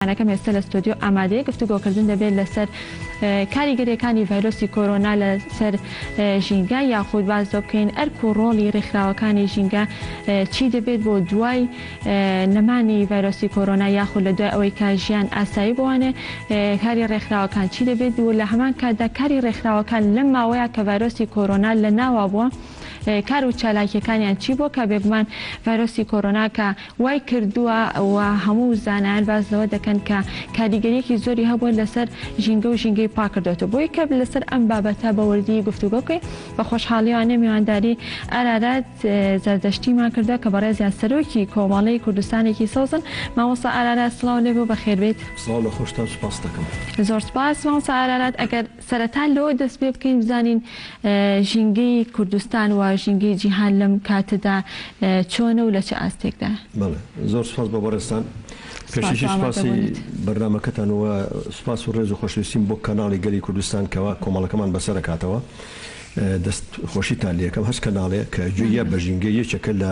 یانەکەم ئێستە لە ستۆدیۆ ئامادەیە گفتوگۆکردن دەبێت لەسەر کاریگەریەکانی ڤایرۆسی کۆرۆنا لە سەر ژینگە یاخود باز دۆ بکەین ئەرک و ڕۆڵی ڕێکخراوەکانی ژینگە چی دەبێت بۆ دوای نەمانی ڤایرۆسی کۆرۆنا یاخود لە دوای ئەوەی کا ژیان ئاسایی بوانێ کاری ڕێکخراوەکان چی دەبێت و لە هەمان کاتدا کاری ڕێکخراوەکان لەم ماوەیە کە ڤایرۆسی کۆرۆنا لە ناوا بووە کار و چالاکیەکانیان چی بۆ کە بێگومان ڤایرۆسی کۆرۆنا کە وای کردووە و هەموو زانایان باس لەوە دەکەن کە کاریگەریەکی زۆری هەبووە لەسەر ژینگە و ژینگەی پاک کردۆتەوە بۆیە کە لەسەر ئەم بابەتە بە وردی گفتوگۆ بکەین بە خۆشحاڵیانە میوانداری ئارارات زەردەشتیمان کردووە کە بەڕێزیان سەرۆکی کۆمەڵەی کوردستانێکی سەوزن مامۆستا ئارارات سڵاو لێبێ و بەخێربێیت. سڵاو لە خۆشتان سوپاست دەکەم. زۆر سوپاس مامۆستا ئارارات ئەگەر. سەرەتا لەوە دەست پێ بکەین بزانین ژینگەی کوردستان و ژینگەی جیهان لەم کاتەدا چۆنە و لە چ ئاستێکدایە؟ بەڵێ، زۆر سوپاس بۆ بەڕێزتان. سوپاس بۆ ئامادە بوونت. پێشەکیش سوپاسی بەرنامەکەتان و سوپاس و ڕێز و خۆشەویستیم بۆ کەناڵی گەلی کوردستان کەوا کۆمەڵەکەمان بەسەر ئەکاتەوە. دەست خۆشیتان لێ ئەکەم. هەچ کەناڵێ کە گوێ یە بە ژینگە یەکێکە لە.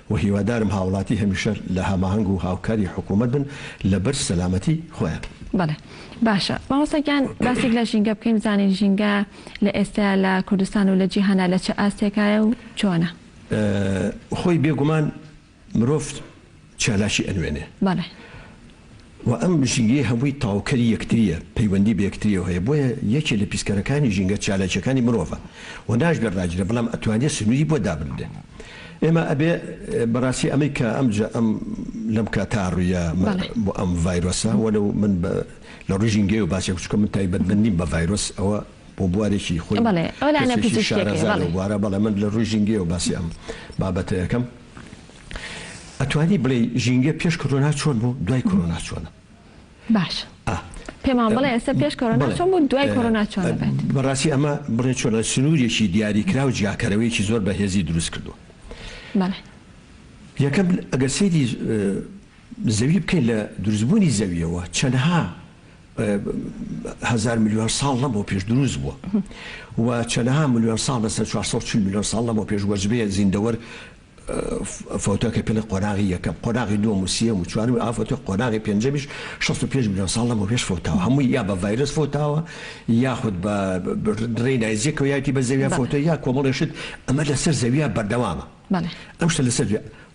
وە هیوادارم هاوڵاتی هەمیشە لە هەماهەنگ و هاوکاری حکومەت بن لە بەر سەلامەتی خۆیان. بەڵێ باشە مامۆستا گیان باسێک لە ژینگە بکەین بزانین ژینگە لە ئێستەیا لە کوردستان و لە جیهانا لە چ ئاستێکایە و چۆنە؟ خۆی بێگومان مرۆڤ چالاکی ئەنوێنێ بەڵێ. وە ئەم ژینگەی هەمووی تاوکەری یەکتریە پەیوەندی بە یەکتریەوە هەیە بۆیە یەکێ لە پیسکەرەکانی ژینگە چالاکیەکانی مرۆڤە وە ناشبێ ڕاگیرێ بەڵام ئەتوانرێ سنوری بۆ دابنرێ ئێمە ئەبێ بەڕاستی ئەمەی کە ئەم جە ئەم لەم کا تا ڕویە مە بۆ ئەم ڤایرۆسە وە لەو من بە لە ڕوی ژینگەیەوە باسێ چکە من تایبەت بە نیم بە ڤایرۆس ئەوە بۆ بوارێکی خۆی کەسێکی شارەزا لەو بوارە بەڵێ من لە ڕوی ژینگەیەوە باسی ئەم بابەتەکەم. ئەتوانی بڵێی ژینگە پێش کۆرۆنا چۆن بوو دوای کۆرۆنا چۆنە؟ باش پێمان بڵێ ئێستا پێش کۆرۆنا چۆن بوو دوای کۆرۆنا چۆن دەبێت بەڕاستی ئەمە بڵێ چۆنە سنوورێکی دیاریکرا و جیاکەرەوەیەکی زۆر بەهێزی دروست کردو یەکەم ئەگەر سەیری زەوی بکەین لە دروستبوونی زەویەوە چەندها هزار میلیۆن ساڵ لەمەوە پێش دروست بووە و چەندها میلیۆن ساڵ بەسەر 440 میلیۆن ساڵ لەمەوە پێش وەجبەیە زیندەوەر فوتە کە پێڵێ قۆناغی یەکەم قۆناغی دووەم و سیەم و چوارمی ئافەتە قۆناغی پێنجەمیش شەست و پێنج ملیۆن ساڵ لەمەو پێش فوتاوە هەمووی یا بە ڤایرس فوتاوە یاخود بە دڕێی نایزیەکەوە یاتی بە زەویان فوتە یا کۆمەڵێشت ئەمە لەسەر زەویە بەردەوامە ئەم شتە لەسەر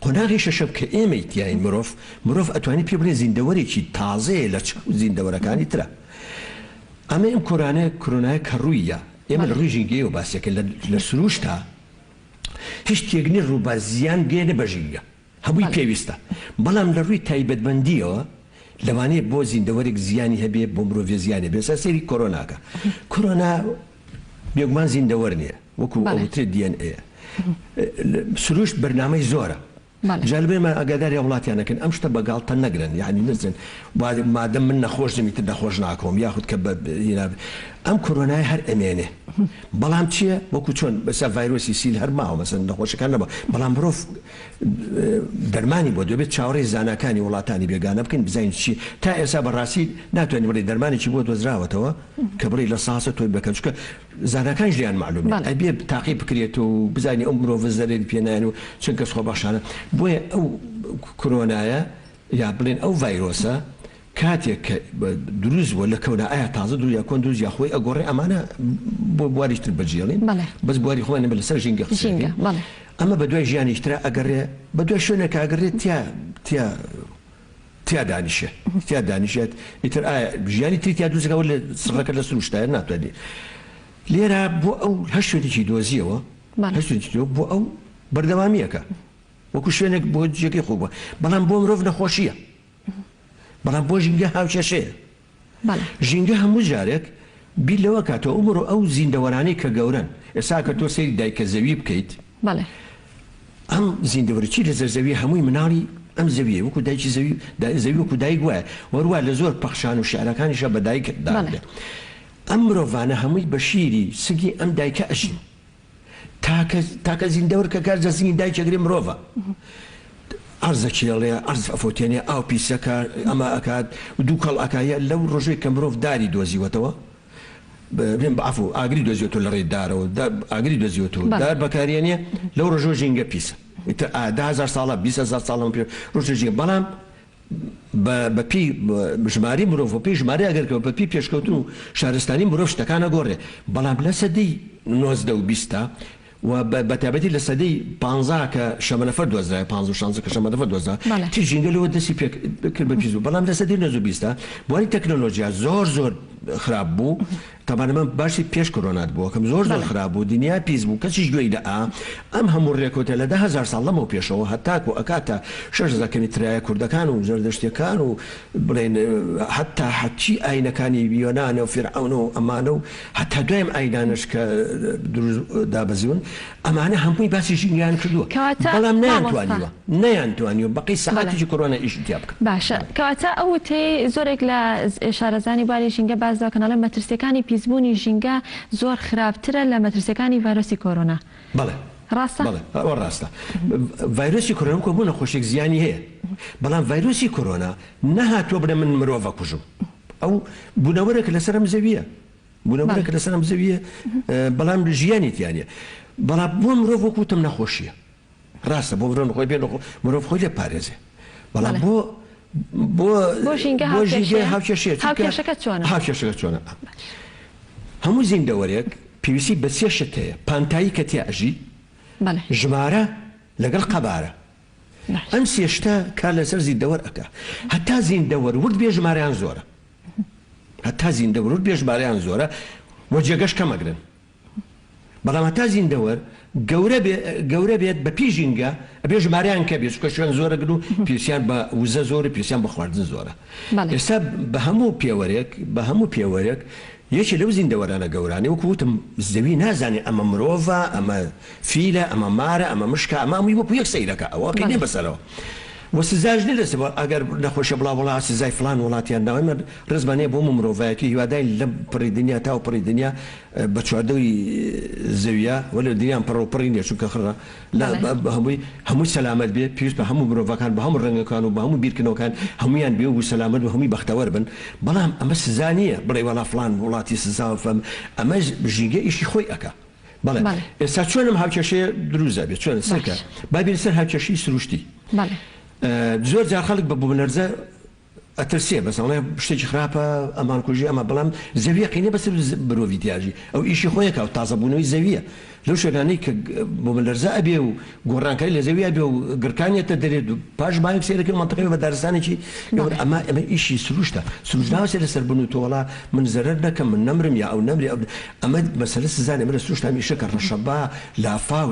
قۆناغی شەشەم کە ئێمەی تیاین مرۆڤ مرۆڤ ئەتوانی پێ بڵێ زیندەوەرێکی تازەیە لە چ زیندەوەرەکانی ترە ئەمە ئەم کۆرانە کرۆنایە کە ڕوویە ئێمە لە ڕووی ژینگەیەوە باسێکە لە سروشتا هیچ شتێک نیە ڕووبار زیان گەیەنێ بە ژینگە هەمووی پێویستە بەڵام لە ڕووی تایبەتمەندیەوە لەوانەیە بۆ زیندەوەرێک زیانی هەبێ بۆ مرۆڤێ زیانێ بێ سەر سەیری کۆرۆناکە کۆرۆنا بێگومان زیندەوەر نیە وەکو ئەوترێ DNA سروشت بەرنامەی زۆرە. بەڵێ. جا لەبەر من ئاگاداری هاوڵاتیان ئەکەن ئەم شتە بەگاڵتە نەگرن یانی نەچن با مادەم من نەخۆش نیم ئیتر نەخۆش ناکۆم یاخود کە بە ینابێ ئەم کۆرۆنایە هەر ئەمێنێ بەڵام چیە وەکو چۆن بەسە ڤایرۆسی سیل هەر ماوە مەسەن نەخۆشەکان نەبا بەڵام مرۆڤ دەرمانی بۆ دەبێت چاوەڕێی زاناکانی وڵاتانی بێگانە بکەین بزانین چی تا ئێسا بەڕاستی ناتوانین بڵێ دەرمانێکی بۆ دۆزراوەتەوە کە بڵێ لە ساسە تۆی بەکەن چکە زاناکانیش لێیان مەعلوم نیە ئەبێ تاقی بکرێت و بزانین ئەو مرۆڤە زەرەری پێ نایەن و چەند کەس خۆبەخشانە بۆیە ئەو کرۆنایە یا بڵێن ئەو ڤایرۆسە کاتێک کە دروست بووە لە کەونا ئایا تازە دروست یا کۆن دروست یا خۆی ئەگۆڕێ ئەمانە بۆ بواریش تر بەجێڵین بەس بواری خۆیان نەبێ لەسەر ژینگە قسەکەین ئەمە بە دوای ژیانیش ترا ئەگەڕێ بە دوای شوێنێک ئەگەڕێت تیا تیا تیا دانیشێ تیا دانیشێت ئیتر ئایا ژیانی تری تیا دروست دەکەوە لە سڕەکە لە سروشتایە ناتوانێت لێرە بۆ ئەو هەر شوێنێکی دۆزیەوە بەڵێ. هەر شوێنێکی دۆ بۆ ئەو بەردەوامییەکە وەکو شوێنێک بۆ جێگەی خۆ بووە بەڵام بۆ مرۆڤ نەخۆشییە بەڵام بۆ ژینگە هاوکێشەیە بەڵێ. ژینگە هەموو جارێک بیر لەوە ئەکاتەوە ئەومرۆ ئەو زیندەوەرانەی کە گەورەن ئێستا ئەکەر تۆ سەیری دایکە زەوی بکەیت بەڵێ. ئەم زیندەوەرە چی لەسەر زەویە هەمووی مناڵی ئەم زەویە وەکو دایکی زەوی دا زەوی وەکو دایک وایە وەروە لە زۆر پەخشان و شعرەکانیشە بە دایک دا بەڵێ. ئەم مرۆڤانە هەمووی بە شیری سنگی ئەم دایکە ئەژین. تاکە تاکە زیندەورکەکە جەسمی دایکە گری مرۆڤە ئەرز ئەکێڵێ ئەرز ئەفۆتێنێ ئاو پیسەکە ئەمە ئەکات و دوو کەڵ ئەکایە لەو ڕۆژێک کە مرۆڤ داری دۆزیوەتەوە بێن بەعفو ئاگری دۆزیێت و لە ڕێی دارەوە ئاگری دۆزیوت و دار بەکارێنێ لەو ڕۆژۆ ژینگە پیسە ئیتر ئادا هزار ساڵە بیهزار ساڵم پێ ڕۆژژین بەڵام بە بە پێی ژمارەی مرۆڤ بە پێی ژمارەی ئەگەرکەوە بە پێی پێشکەوتن و شارستانی مرۆڤ شتەکان ئەگۆڕێ بەڵام لە سەدەی نۆزدە و بیستا و بە بە تایبەتی لە سەدەی پانزا کە شەمەنەفەر دۆزرایە پانز و شانزە کە شەمەنەفەر دۆزرا بەڵێ تی ژینگە لەوە دەستی پێ کرد بە پیس بوو بەڵام لە سەدەی نۆزدە و بیستا بواری تەکنۆلۆژیا زۆر زۆر خراپ بوو تەبان ئەمە باسی پێش کۆرۆنات بوو ئەکەم زۆر زۆر بەڵێ. خراپ بوو دنیا پیس بوو کەسیش گوێی نە ئا ئەم هەموو رێکەوتە لە دە هەزار ساڵ لەمەو پێشەوە هەتاکو ئەکاتە شەش هەزار کەنی ترایە کوردەکان و زەردەشتیەکان و بڵێن هەتا هەرچی ئاینەکانی یۆنانە و فیرعەونە و ئەمانە و هەتا دوایم ئاینانەش کە دروست دابەزیون ئەمانە هەمووی باسی ژینگەیان کردووە کەواتە بەڵام نەیان مامۆستا توانیوە نەیان توانیوە بەقەی بەڵێ سەعاتێکی کۆرۆنا ئیشی تیا بکەن. باشە کەواتە ئەو وتەی زۆرێک لە شارەزانی باری ژینگە باس دەکەن ئەڵێن مەترسیەکانی پیسبوونی ژینگە زۆر خراپترە لە مەترسیەکانی ڤایرۆسی کۆرۆنا بەڵێ ڕاستە؟ بەڵێ ئەوە ڕاستە ڤایرۆسی کۆرۆنا وەکو هەموو نەخۆشیەک زیانی هەیە بەڵام ڤایرۆسی کۆرۆنا نەهاتووە بڵێ من مرۆڤ ئەکوژم ئەو بونەوەرێکە لەسەر ئەم زەویە بوونەوەرە کە لەسەر ئەم زەوییە بەڵام ژیانی تیا نیە بەڵام بۆ مرۆڤ وەک وتم نەخۆشیە ڕاستە بۆ مرۆڤ خۆی بێ مرۆڤ خۆی لێ پارێزێ بەڵام بۆ بۆ بۆ ژینگە بۆ ژینگە هاوکێشێت چونکە هاوکێشەکە چۆنە هاوکێشەکە چۆنە هەموو زیندەوەرێک پێویستی بە سێ شت هەیە پانتایی کە تیا ئەژی بەڵێ ژمارە لەگەڵ قەبارە ئەم سێ شتە کار لەسەر زیندەوەر ئەکا هەتا زیندەوەر ورد بێ ژمارەیان زۆرە هەتا زیندەوەر ورد بێ ژمارەیان زۆرە و جێگەش کەم ئەگرن بەڵام هەتا زیندەوەر گەورە بێ گەورە بێت بە پێی ژینگە ئەبێ ژمارەیان کە بێ چکە شوێن زۆرە گرن و پێوسیان بە وزە زۆر و پێوسیان بە خواردن زۆرە بەڵێ ئێستا بە هەموو پێوەرێک بە هەموو پێوەرێک یەکێ لەو زیندەوەرانە گەورانەی وەکو وتم زەوی نازانێ ئەمە مرۆڤە ئەمە فیلە ئەمە مارە ئەمە مشکە ئەمە هەمووی وەکو یەک سەیرەکا ئەوە قی نیە بەڵێ. بەسەرەوە و سزاش نیە لەسەر بەڵام ئەگەر نەخۆشە بڵاو وڵا سزای فڵان وڵات یان ناوی من ڕێزمان نیە بۆ هەموو مرۆڤایەتی هیواداین لەم پڕی دنیا تاو پڕی دنیا بە چواردەوری زەویە وەلێ دنیام پڕەو پڕی نیە چونکە خڕە لە بە هەمووی هەمووی سەلامەت بێ پێویست بە هەموو مرۆڤەکان بە هەموو ڕەنگەکان و بە هەموو بیرکردنەوەکان هەموویان بێوو و سەلامەت و هەمووی بەختەوەر بن بەڵام ئەمە سزا نییە بڵێی وەڵا فڵان وڵاتی سزاوە فەم ئەمەش ژینگە ئیشی خۆی ئەکا بەڵێ بەڵێ ئێستا چۆن ئەم هاوکێشەیە دروست ئەبێ چۆن سەیرکە باشە با بێینە سەر هاوکێشەی سروشتی بەڵێ ئە زۆر جار خەڵک بە بومەلەرزە ئەترسێ بەس ئەڵێ شتێکی خراپە ئەمان کوژی ئەمە بەڵام زەویە قینە بەسەر مرۆڤی تیاژی ئەو ئیشی خۆیەکە و تازە بوونەوەی زەویە لەو شوێنانەی کە بومەلەرزە ئەبێ و گۆڕانکاری لە زەوی ئەبێ و گڕکان یەتە دەرێت و پاش بایەک سەیرەکەی و مەنتەقەی بە دارستانێکی گەورە ئەما ئەمە ئیشی سروشتە سروشت ناوە سەیرە سەر بن و تۆ وەڵا من زەرەر نەکەم من نەمرم یا ئەو نەمرێ ئەو ئەمە مەسەلە سزا نیە ئەمە لە سروشت هەمیشە کە ڕەشەبا لافاو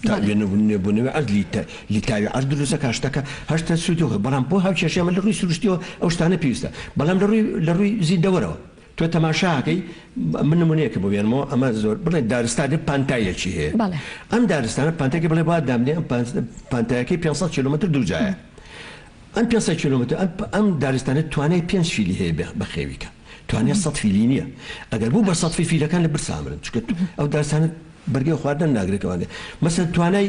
تا بێ نبوونەوەی عەدلی لیکاوی عەرز دروستەکات شتەکە هەشتە سوودی خۆی بەڵام بۆ هاوکێشەیە من لە ڕووی سروشتیەوە ئەو شتانە پێویستە بەڵام لە ڕووی لە ڕووی زیندەوەرەوە تۆ تەماشاکەی من نمونەیەکە بۆ بێنمەوە ئەمە زۆر بڵێ دارستانی پانتاییەکی هەیە ئەم دارستانە پانتێکی بڵێ با دامنێ ئەم پانتایەکەی پێنج سەد کیلۆمەتر دووجایە ئەم پێنج سەد کیلۆمەتر ئەم دارستانە توانای پێنج فیلی هەیە بەخێویکە توانێت سەد فیلی نییە ئەگەر بوو بە سەد فیلەکان لە برسامرن چکت ئەو دارستانە بەرگەی خواردن ناگرێتوانێت مەسەن توانای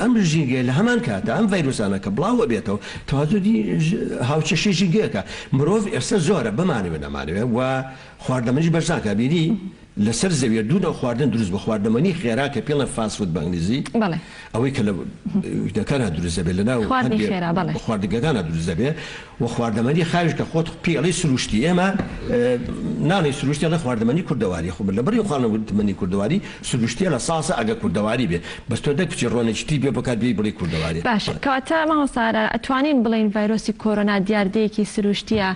ئەم ژینگەیە لە هەمان کاتدا ئەم ڤایرۆسانە کە بڵاو ئەبێتەوە تەوازنی هاوچەشی ژینگەکە مرۆڤ ئێستا زۆرە بمانەوێ نەمانەوێ و خواردەمەنیش بەرزان کە ئەبینی لەسەر زەویە دوو نەوع خواردن دروست بووە خواردەمەنی خێرا کە پێڵێن فاست فود بە ئینگلیزی ئەوەی کە لە دەکانە دروست دەبێت لەناو خواردنگەکانە دروست دەبێت و خواردەمەنی خاویش کە خۆت پێی ئەڵێی سروشتی ئێمە ناڵێی سروشتی ئەڵێ خواردەمەنی کوردەواری خۆ من لە بەری خواردەمەنی کوردەواری سروشتیە لە ساسە ئەگە کوردەواری بێ بەس تۆ نەکچی ڕۆنێکی تری پێ بکات بێی بڵێی کوردەواری. باشە کەواتە مامۆستا ئارا ئەتوانین بڵێین ڤایرۆسی کۆرۆنا دیاردەیەکی سروشتیە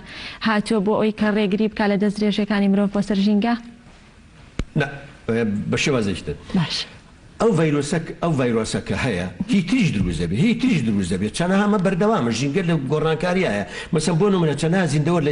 هاتووە بۆ ئەوەی کە ڕێگری بکات لە دەستدرێژیەکانی مرۆڤ بۆ سەر ژینگە؟ نا بە شێوازێکی تر. باشە. ئەو ڤایرۆسە ئەو ڤایرۆسە کە هەیە هی تریش دروست دەبێت هی تریش دروست دەبێت چەنەها ئەمە بەردەوامە ژینگە لە گۆڕانکاری هەیە مەسەن بۆ نمونە چەنەها زیندەوە لە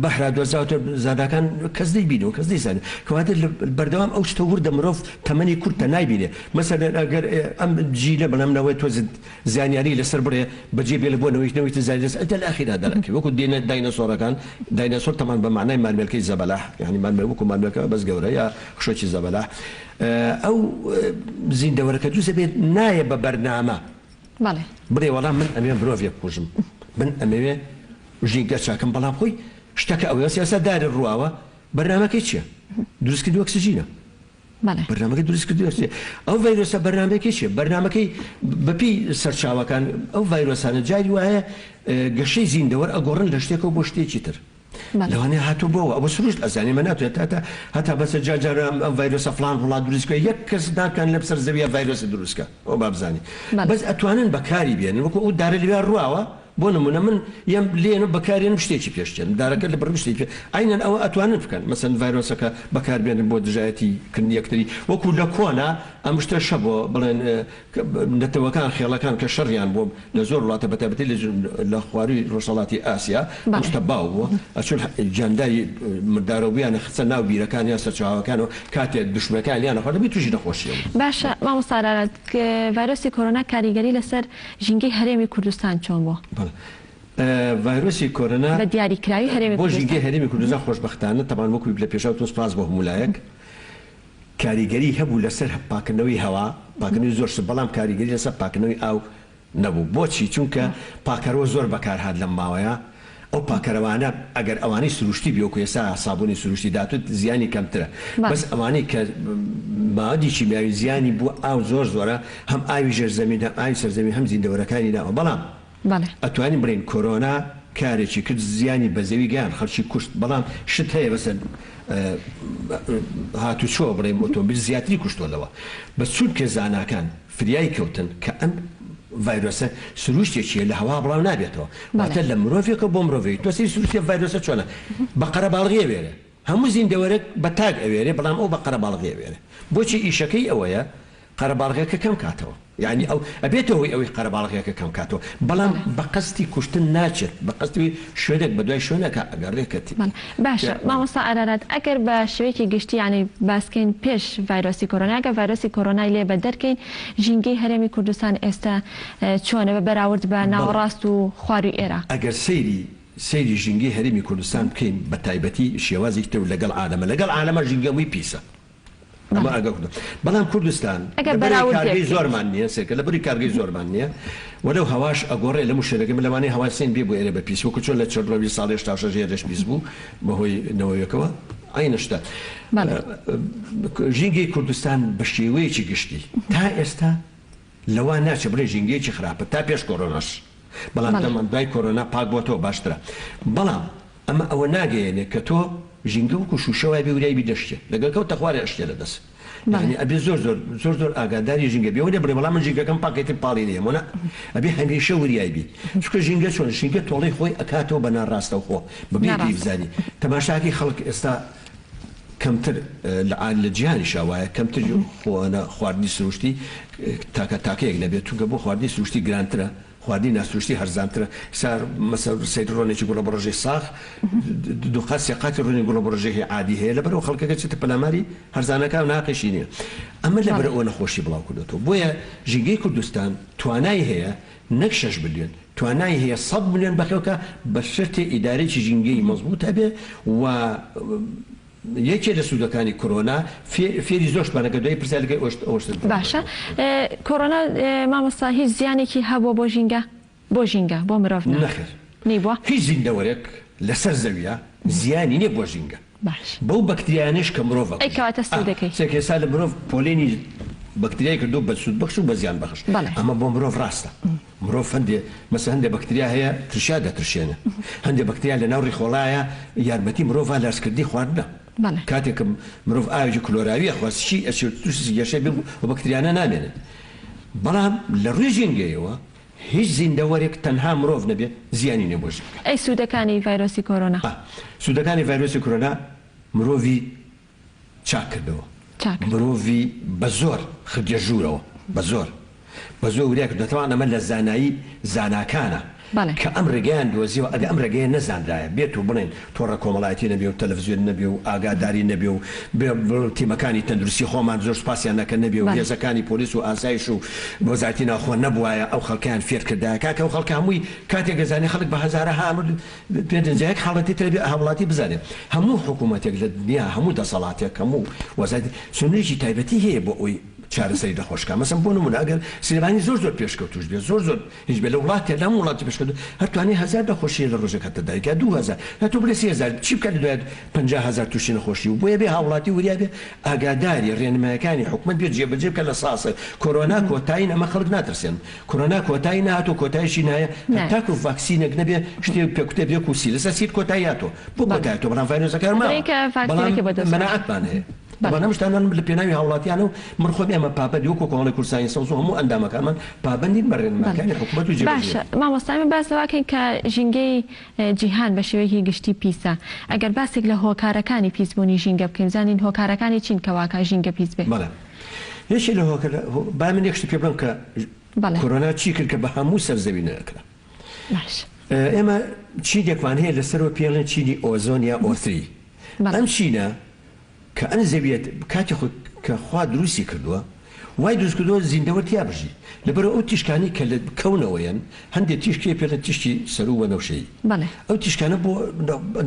بەحرا دۆزاوتە زاداکان کەس دەیبینن و کەس دەیزانن کەواتە لە بەردەوام ئەو شتە وردە مرۆڤ تەمەنی کورتە نایبینێ مەسەن ئەگەر ئەم جیلە بەڵام نەوەی تۆزت زانیاری لەسەر بڕێ بەجێ بێلە بۆ نەوەیش نەوەی تر زانیاری لەسەر انت الاخیرە دەرەکەی وەکو دێنە داینەسۆرەکان داینەسۆر تەمان بە مەعنای مارمێلکەی زەبەلاح یانی مارمێلکە وەکو مارمێلکە بەس گەورە یا خشۆکی زەبەلاح ئەو زیندەوەرە کە دروست دەبێت نایە بە بەرنامە بەڵێ بڵێ وەڵام من ئەمێ مرۆڤێک بکوژم من ئەمەوێ ژی گەچاکەم بەڵام خۆی شتەکە ئەوەیە سیاسەت داری ڕواوە بەرنامەکەی چییە دروستکردنی ئۆکسجینە بەڵێ. بەرنامەکەی دروست کردووە چیە؟ ئەو ڤایرۆسە بەرنامەکەی چیە؟ بەرنامەکەی بەپێی سەرچاوەکان ئەو ڤایرۆسانە جاری وایە گەشەی زیندە وەر ئەگۆڕن لە شتێکەوە بۆ شتێکی تر. بەڵێ. لەوانەیە هاتووە بۆ ئەوە. ئەوە سروشت ئەزانێ مە ناتوێت هەتا هەتا بەسە جار جار ئەم ئەم ڤایرۆسە فڵان وڵات دروست کە یەک کەس ناکەن لەم سەر زەویە ڤایرۆسی دروست کە ئەوە با بزانێ. بەڵێ. بەس ئەتوانن بەکاری بێنن وەکوو ئەو دارە لەوێ ڕواوە. بۆ نمونە من یەم لێنە بەکارێنم شتێکی پێ شکێنم دارەکە لە بڕگی شتێکی پێ عەینەن ئەوە ئەتوانن بکەن مەسەن ڤایرۆسەکە بەکار بێنن بۆ دژایەتی کردنی یەکتری وەکو لە کۆنا ئەم شتەش هەبوە بڵێن کە نەتەوەکان خێڵەکان کە شەڕیان بۆ لە زۆر وڵاتە بە تایبەتی لە لە خواروی ڕۆژهەڵاتی ئاسیا ئەم بەڵێ شتە باو بوە ئەچون حە جانداری مردارەو بیانە خستە ناو بیرەکانیان سەرچاوەکانەوە کاتێ دوشمنەکانیان ئەخواردن بێ توشی نەخۆشیە بون. باشە مامۆستا ئارارات ڤایرۆسی کۆرۆنا کاریگەری لەسەر ژینگەی هەرێمی کوردستان چۆن بووە؟ بەڵێ ڤایرۆسی کۆرۆنا بە دیاریکراوی هەرێمی کوردستان. بۆ ژینگەی هەرێمی کوردستان خۆشبەختانە تەبان وەکو لە پێشا وتم سپاس بۆ هەموو لایەک کاریگەری هەبوو لەسەر پاکردنەوەی هەوا پاکردنەوەی زۆر شت بەڵام کاریگەری لەسەر پاکردنەوەی ئاو نەبوو بۆچی چونکە پاکەرەوە زۆر بەکار هات لەم ماوەیە ئەو پاکەرەوانە ئەگەر ئەوانەی سروشتی بی وەکو ئێستا سابونی سروشتی داتوت زیانی کەمترە بەس ئەوانەی کە مادی کیمیاوی زیانی بو ئاو زۆر زۆرە هەم ئاوی ژێر زەمین هەم ئاوی سەر زەمین هەم زیندەوەرەکانی ناوە بەڵام ئەتوانین بڵێین کۆرۆنا کارێکی کرد زیانی بە زەوی گەیان خەڵکی کوشت بەڵام شت هەیە بەسە هاتوچۆ بڵێم ئۆتۆمبیل زیاتری کوشتۆ لەوە بەس چونکە زاناکان فریای کەوتن کە ئەم ڤایرۆسە سروشتێکیە لە هەوا بڵاو نابێتەوە واتە لە مرۆڤێکە بۆ مرۆڤی تۆ سری سروشتی ڤایرۆسە چۆنە بە قەرەباڵغی ئەوێنێ هەموو زیندەوەرێک بە تاک ئەوێنێ بەڵام ئەو بە قەرەباڵغی ئەوێنێ بۆچی ئیشەکەی ئەوەیە قەرەباڵغەکە کەم کاتەوە یانی ئەو ئەبێتەوە هۆی ئەوەی قەرەباڵغەکە کەم کاتەوە بەڵام بە قەستی کوشتن ناچێت بە قەستی شوێنێک بەدوای شوێنێکا ئەگەڕێ کە تبی. بەڵێ باشە مامۆستا ئارارات ئەگەر بە شێوەیەکی گشتی یانی باسکەین پێش ڤایرۆسی کۆرۆنا گەر ڤایرۆسی کۆرۆنای لێ بە دەرکەین ژینگەی هەرێمی کوردستان ئێستە چۆنە بە بەراورد بە ناوەڕاست و خواروی ئێرە؟ ئەگەر سەیری سەیری ژینگەی هەرێمی کوردستان بکەین بە تایبەتی شێوازێکی تر و لەگەڵ عالەمە لەگەڵ عالەمە ژینگە وی پیسە. ئەمە ئاگا کردن بەڵام کوردستان ئەگەر لەبەرەی بەراورد کارگەی لێبکەیت. زۆرمان نییە سێکە لەبری کارگەی زۆرمان نییە و لەو هەواش ئەگۆڕێ لەموو شوێنەکە من لەوانەیە هەوای سێن بێ بۆ ئێرە بە پیس وەکو چۆن لە چرنۆ بیل ساڵی هەشتا و شەش ئێرەش پیس بوو بەهۆی نەوەوێکەوە عەینە شتە بەڵێ. ژینگەی کوردستان بە شێوەیەکی گشتی تا ئێستا لەوە ناچێت بڵێین ژینگەیەکی خراپە تا پێش کۆرۆناش بەڵام بەڵێ. دەڵێن دوای کۆرۆنا پاک بۆتەوە باشترە بەڵام ئەمە ئەوە ناگەیەنێت کە تۆ ژینگە وەکو شوشە وایە بێ وریای بی دەشکێت لەگەڵ کەوتە خوارێ ئەشکێ لە دەست بەڵێ. یانی ئەبێت زۆر زۆر زۆر زۆر ئاگاداری ژینگە بی ئەوە نە بڵێ بەڵام من ژینگەکەم پاکە ئیتر پاڵی نیە مۆ نا ئەبێ هەمیشە وریای بی چونکە ژینگە چۆنە ژینگە تۆڵەی خۆی ئەکاتەوە بە ناڕاستەوخۆ بەبێ پێی ناڕاستە. بزانی تەماشاکەی خەڵک ئێستا کەمتر لە عادی لە جیهانیشا وایە کەمتر خۆانە خواردنی سروشتی تاکە تاکەیەک نەبێت چونکە بۆ خواردنی سروشتی گرانترە خواردنی ناسروشتی هەرزانترە سا مەسە سەیر ڕۆنێکی گوڵە بڕژەی ساخ دوقات سێقاتی ڕۆنی گوڵە بڕژەی عادی هەیە لەبەرەوە خەڵکەکە چێتە پەلاماری هەرزانەکە و ناقیشی نییە ئەمە لەبەرەوە نەخۆشی بڵاو کردوەوە بۆیە ژینگەی کوردستان توانای هەیە نەک شەش ملیۆن توانای هەیە سەد ملیۆن بەخێو کا بە شەرتێ ئیدارەیەکی ژینگەیی مەزبووت هەبێ و یەکێ لە سوودەکانی کۆرۆنا فێری زۆرشمان ئەگەر دوای پرسیار لەگەڵ ئەوشت ئەوشتت بۆ باشە کۆرۆنا مامۆستا هیچ زیانێکی هەبووە بۆ ژینگە بۆ ژینگە بۆ مرۆڤ نا نەخێر نەیبووە هیچ زیندەوەرێک لەسەر زەویە زیانی نیە بۆ ژینگە. باش. بەو بەکتریایانەش کە مرۆڤ ئەکوژێت. ئەیکەواتە سوو دەکەی. ئەه کەسا لە مرۆڤ پۆلێنی بەکتریای کردووە بە سوود بەخش و بە زیان بەخش بەڵێ. ئەمە بۆ مرۆڤ ڕاستە مرۆڤ هەندێ مەسەن هەندێ بەکتریا هەیە ترشیا دەترشێنن هەندێ بەکتریا لە ناو ڕیخۆڵایا یارمەتی مرۆڤە لە ڕزکردنی خواردنە بەڵێ. کاتێ کە مرۆڤ ئاوێکی کلۆراوی ئەخوا سشی ئەچێت تووشی گەشەی بم ئەو بەکتریانە نامێنن بەڵام لە ڕووی ژینگەیەوە هیچ زیندەوەرێک تەنها مرۆڤ نەبێت زیانی نیە بۆ ژینگە. ئەی سوودەکانی ڤایرۆسی کۆرۆنا؟ سوودەکانی ڤایرۆسی کۆرۆنا مرۆڤی چاک کردەوە مرۆڤی بە زۆر خردیە ژوورەوە بە زۆر بە زۆر وریا کردوە تەوان ئەمە لە زانایی زاناکانە کە ئەم ڕێگەیان دۆزیەوە ئەگە ئەم ڕێگەیە نەزانرایە بێت و بڵێن تۆڕە کۆمەڵایەتی نەبێ و تەلەفزیۆن نەبێ و ئاگاداری نەبێ و بێ و تیمەکانی تەندروستی خۆمان زۆر سوپاسیان نەکەن نەبێ و بەڵێ. هێزەکانی پۆلیس و ئاسایش و وەزارەتی ناوخۆ نەبوایە ئەو خەڵکەیان فێر کردایە کاکە ئەو خەڵکە هەمووی کاتێک ئەزانێ خەڵک بە هەزارەها ئەمر پێ دەن جا یەک حاڵەتی ترە بێ هاوڵاتی بزانێ هەموو حکوومەتێک لە دنیا هەموو دەسەڵاتێک هەموو وەزارەتی سنوورێکی تایبەتی هەیە بۆ ئەوی چارەسەری نەخۆش کا مەسەن بۆ نموونە ئەگەر سلێمانی زۆر زۆر پێشکەوتووش بێ زۆر زۆر هیچ بێ لە وڵاتێ لە هەموو وڵاتێ پێشکەوتوو هەر توانێ هەزار نەخۆشی لە ڕۆژێکا تەداوی کا دوو هەزار جا تۆ بڵێ سی هەزار چی بکا لە دوایێ پەنجا هەزار تووشی نەخۆشی بوو بۆیە بێ هاوڵاتی وریا بێ ئاگاداری ڕێنمایەکانی حکومەت بێ جێ بەجێ بکا لە ساسە کۆرۆنا کۆتای نەما خەڵک ناترسێن کۆرۆنا کۆتای نەهاتۆ کۆتایشی نایە هەتاکوو ڤاکسینێک نەبێ شتێ پێ کوتێ بێ کوو سیرسە سیر کۆتای هاتۆ بۆ کۆتای هاتۆ بەڵام ڤایرۆسەکان ماوە بەڵام مەناعەتمان هەیە. بەرنامەی شتانان لە پێناوی هاوڵاتیانە و من خۆم ئێمە پابەندی وەکو کۆمەڵی کوردستانی سەوز و هەموو ئەندامەکانمان پابەندین بە رێنماکانی حکومەت و جێبەجێ باشە مامۆستا ئێمە باس لەوە ئەکەین کە ژینگەی جیهان بە شێوەیەکی گشتی پیسە ئەگەر باسێک لە هۆکارەکانی پیس بوونی ژینگە بکەین بزانین هۆکارەکانی چین کە واکا ژینگە پیس بێ. بەڵێ یەکێ لە هۆکار با من یەک شتی پێ بڵێم کە بەڵێ. کۆرۆنا چی کرد کە بە هەموو سەر زەوی نە کرا باش. ئێمە چینێکمان هەیە لە سەرەوە پێڵێن چینی ئۆزۆن یا ئۆ ثری بەڵێ. ئەم چینە کە ئەن زەویەت کاتی خۆی کە خوا دروستی کردوە وای دروست کردوە زیندەوەر تیا بژی لەبەرو ئەو تیشکانەی کە لە کەونەوەیەن هەندێ تیشکی پێڵێ تیشکی سەرو وەنەوشەیی بەڵێ. ئەو تیشکانە بۆ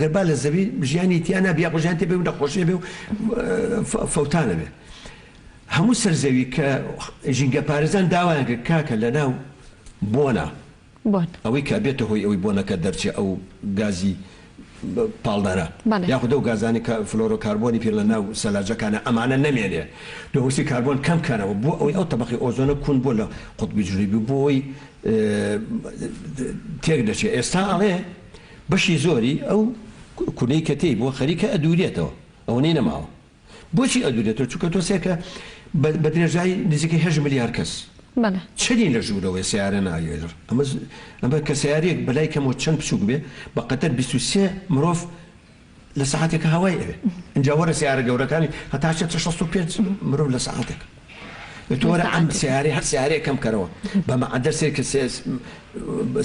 گەر با لە زەوی ژیانی تیا نابی یاخۆ ژیان تێ بێ و نەخۆشی ئەبێ و فەوتان ئەبێ هەموو سەر زەوی کە ژینگە پارێزان داوایان کرد کاکە لە ناو بۆنە بۆن. ئەوەی کە ئەبێتە هۆی ئەوەی بۆنەکە دەرچێ ئەو گازی پاڵنەرە بەڵێ. یاخود ئەو گازانەی کە فلۆرۆ کاربۆنی پێ لە ناو سەلاجەکانە ئەمانە نەمێنێ دووەکسی کاربۆن کەم کەنەوە بۆ ئەوەی ئەو تەبەقەی ئۆزۆنە کون بۆ لە قوتبی جنوبی بۆ ئەوەی تێک دەچێ ئێستا ئەڵێ بەشی زۆری ئەو کونەی کە تێی بووە خەریکە ئەدوورێتەوە ئەوەنەی نەماوە. بۆچی ئەدوورێتەوە؟ چونکە تۆسێ کە بە درێژایی نزیکەی هەشت ملیار کەس بەڵێ. چەنی لە ژوورەوەی سەیارە نایێلڕ ئەمە ئەمە کە سەیارێک بەلای کەمەوە چەند بچووک بێ بە قەتەر بیست و سێ مرۆڤ لە سەعاتێکە هەوای ئەوێ ئینجا وەرە سەیارە گەورەکانی هەتا شەست و پێنج مرۆڤ لە سەعاتێکە. تۆرە ئەم سەیارەی هەر سەیارەیە کەم کەرەوە بە مەعەدەل سەیر کە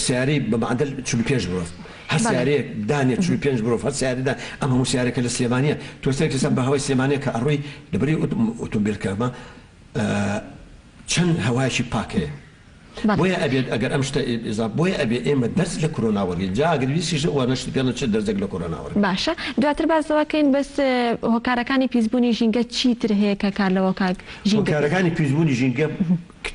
سەیارەی بە مەعەدەل 45 مرۆڤ هەر سەیارەیەک دانێ 45 مرۆڤ هەر سەیارەدا ئەم هەموو سەیارەکە لە سلێمانیە تۆ سەیر کەسە بە هەوای سلێمانە کە ئەڕووی لەبری ئۆتۆمبیلکەمە چەند هەوایەکی پاکەیە بۆیە ئەبێت ئەگەر ئەم شتە ئیزاف بۆیە ئەبێ ئێمە دەرس لە کورۆنا وەرگین جا ئەگەر ویستیشت وانە شتی پێڵێ چ دەرزێک لە کورۆنا وەرگین. باشە دواتر باس لەوە کەین بەس هۆکارەکانی پیسبوونی ژینگە چی تر هەیە کە کار لەوە کاک ژینگە بکەن؟ هۆکارەکانی پیسبوونی ژینگە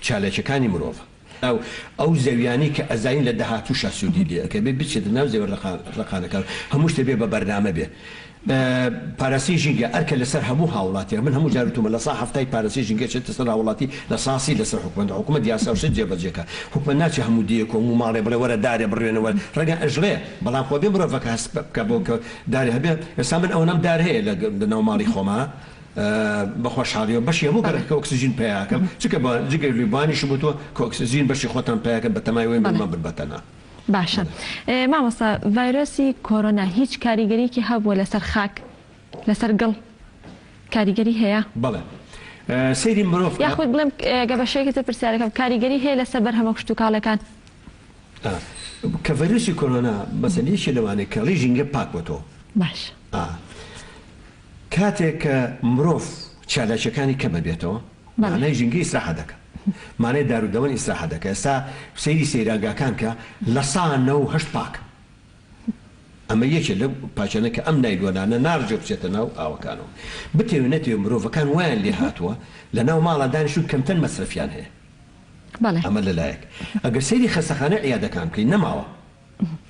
چالاکیەکانی مرۆڤە ئەو ئەو زەویانەی کە ئەزانین لە داهاتووشا سوودی لێ ئەکەوێ بچێتە ناو زەوی ڕەقانەکان هەموو شتێ بێ بە بەرنامە بێ پاراستنی ژینگە ئەرکە لەسەر هەموو هاوڵاتیان من هەموو جار وتومە لەسا هەفتای پاراستنی ژینگە چێتە سەر هاوڵاتی لەساسی لەسەر حکومەتە حکومەت یاسا و شت جێبەجێکا حکومەت ناچێ هەموو دێیەک و هەموو ماڵێ بڵێ وەرە دارێ بڕوێنە وەر ڕەنگە ئەژڵێ بەڵام خۆ بێ مرۆڤەکە هەست بکا بۆ کە دارێ هەبێ ئێستا من ئەونەم دار هەیە لە لە ناو ماڵی خۆما بە خۆشحاڵیەوە بەشی هەموو گەڕەکەکە ئۆکسجین پەیاکەم چونکە بە جگەر لێ بانیشم وتوە کە ئۆکسجین بەشی خۆتان پەیاکەن بە تەمای وەی من مەبن بە تەنها. باشە مامۆستا ڤایرۆسی کۆرۆنا هیچ کاریگەریەکی هەبووە لەسەر خاک لەسەر گڵ کاریگەری هەیە؟ بەڵێ سەیری مرۆڤ کە. یاخود بڵێم گە بە شێوەیەکی تر پرسیارەکەم کاریگەری هەیە لەسەر بەرهەمە کشتوکاڵەکان؟ ئا کە ڤایرۆسی کۆرۆنا مەسەن یەکێ لەوانەیە کە ڕیژ ینگە پاک بۆتەوە. باشە. ئا کاتێک کە مرۆڤ چالاکیەکانی کەمە بێتەوە مەعنای ژینگە ئیسراحەت دەکا. مانای دار و دەوەن ئیسراحەت دەکە ئێستا سەیری سەیرانگاکان کە لە سا نە و هەشت پاک ئەمە یەکێ لەو پاچانە کە ئەم نایلۆنانە نارجە بچێتە ناو ئاوەکانەوە بتەوێ نەتەوێ مرۆڤەکان وایان لێ هاتووە لە ناو ماڵا دانیشتون کەمتەر مەسرەفیان هەیە ئەمە لە لایەک ئەگەر سەیری خەستەخانەی عیادەکان بکەی نەماوە.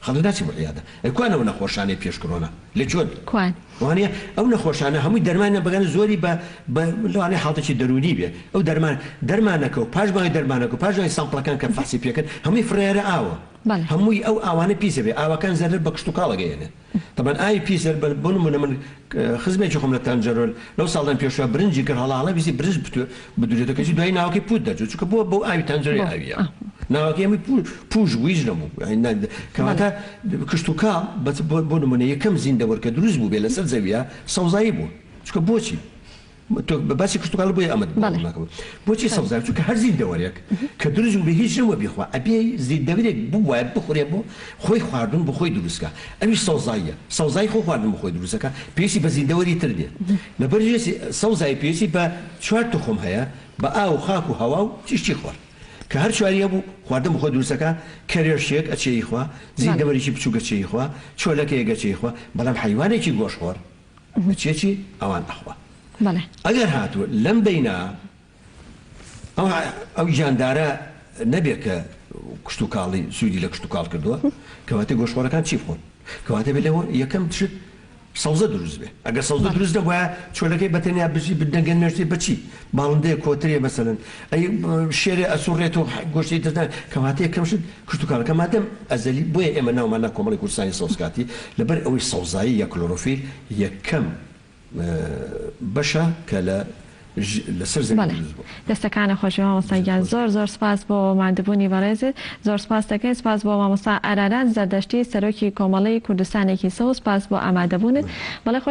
خەڵک ناچێ بۆ عیادە. ئەی کوان ئەو نەخۆشانەی پێش کڕۆنا؟ لە کوێن؟ کوان؟ وانیە ئەو نەخۆشانە هەمووی دەرمانیان بەگەنە زۆری بە بە لەوانەیە حاڵتەکی دەروونی بێ ئەو دەرمان دەرمانەکە و پاش ماوەی دەرمانەکە و پاش ماوەی سامپڵەکان کە فەحسی پێکەن هەمووی فڕێیارە ئاوە. بەڵێ. هەمووی ئەو ئاوانە پیسە بێ ئاوەکان زەرەر بە کشتوکاڵ ئەگەیەنێ. تەبەن ئای پیس هەر بەر بۆ نموونە من خزمێکی خۆم لە تانجەرۆ لەو ساڵدان پێشوە برنجی کرد هەڵا هەڵا ویستی برنج بتو بدوورێتەوە کەچی دوای ناوەکەی پووت دەرچوو چونکە بۆ بۆ ئاوی تانجەرۆی ئاوییە ناوەکەی هەمووی پوو پووش بوو هیچ نەبوو یانی نا کەواتە کشتوکاڵ بەس بۆ بۆ نموونە یەکەم زیندەوەر کە دروست بوو بێ لەسەر زەوییە سەوزایی بوو چونکە بۆچی؟ تۆ باسی کشتوکاڵ بۆیە ئەمەت بڵاو بڵێ ناکەم بۆچی سەوزاوی چونکە هەر زیندەوەرێک کە دروست بوو بێ هیچ نەوە بیخوا ئەبێ زیندەورێک بووایە بخورێ بۆ خۆی خواردن بۆ خۆی دروست کا ئەویش سەوزاییە سەوزای خۆ خواردن بۆ خۆی دروست دەکا پێویستی بە زیندەوەری تر نیە لەبەر ژێسی سەوزاوی پێویستی بە چوار توخم هەیە بە ئاو و خاک و هەوا و تیشکی خۆر کە هەر چواری هەبوو خواردن بۆ خۆی دروست دەکا کەرێشێک ئەچێی خوا زیندەوەرێکی بچووک ئەچێی خوا چۆلەکەیەک ئەچێی خوا بەڵام حەیوانێکی گۆشتخۆر مچیەکی ئەوان ئەخوا بەڵێ. ئەگەر هاتوو لەم بەینا ئەو ئەو گیاندارە نەبێ کە کشتوکاڵی سوودی لە کشتوکاڵ کردووە کەواتە گۆشخۆرەکان چی بخۆن کەواتە بێ لەوە یەکەم تشت سەوزە دروست بێ ئەگەر سەوزە بەڵێ. دروست نەبوایە چۆلەکەی بەتەنیا بژی بدەنگە نوێژتێ بە چی باڵندەیە کۆترێ مەسەلەن ئەی شێرێ ئەسووڕێتەوە گۆشتی دەدەن کەواتە یەکەم شت کشتوکاڵەکە مادەم ئەزەلی بۆیە ئێمە ناومان نا کۆمەڵی کوردستانی سەوز کاتی لەبەر ئەوەی سەوزایی یا کلۆرۆفیل یەکەم بەشە کە لە لەسەر زەوی دروست بووە. بەڵێ دەستەکانت خۆشبێ مامۆستا گیان زۆر زۆر سپاس بۆ ماندبوونی بەڕێزت زۆر سپاست دەکەین سپاس بۆ مامۆستا ئارارات زەردەشتی سەرۆکی کۆمەڵەی کوردستانێکی سەوز سپاس بۆ ئامادەبوونت بەڵێ خۆش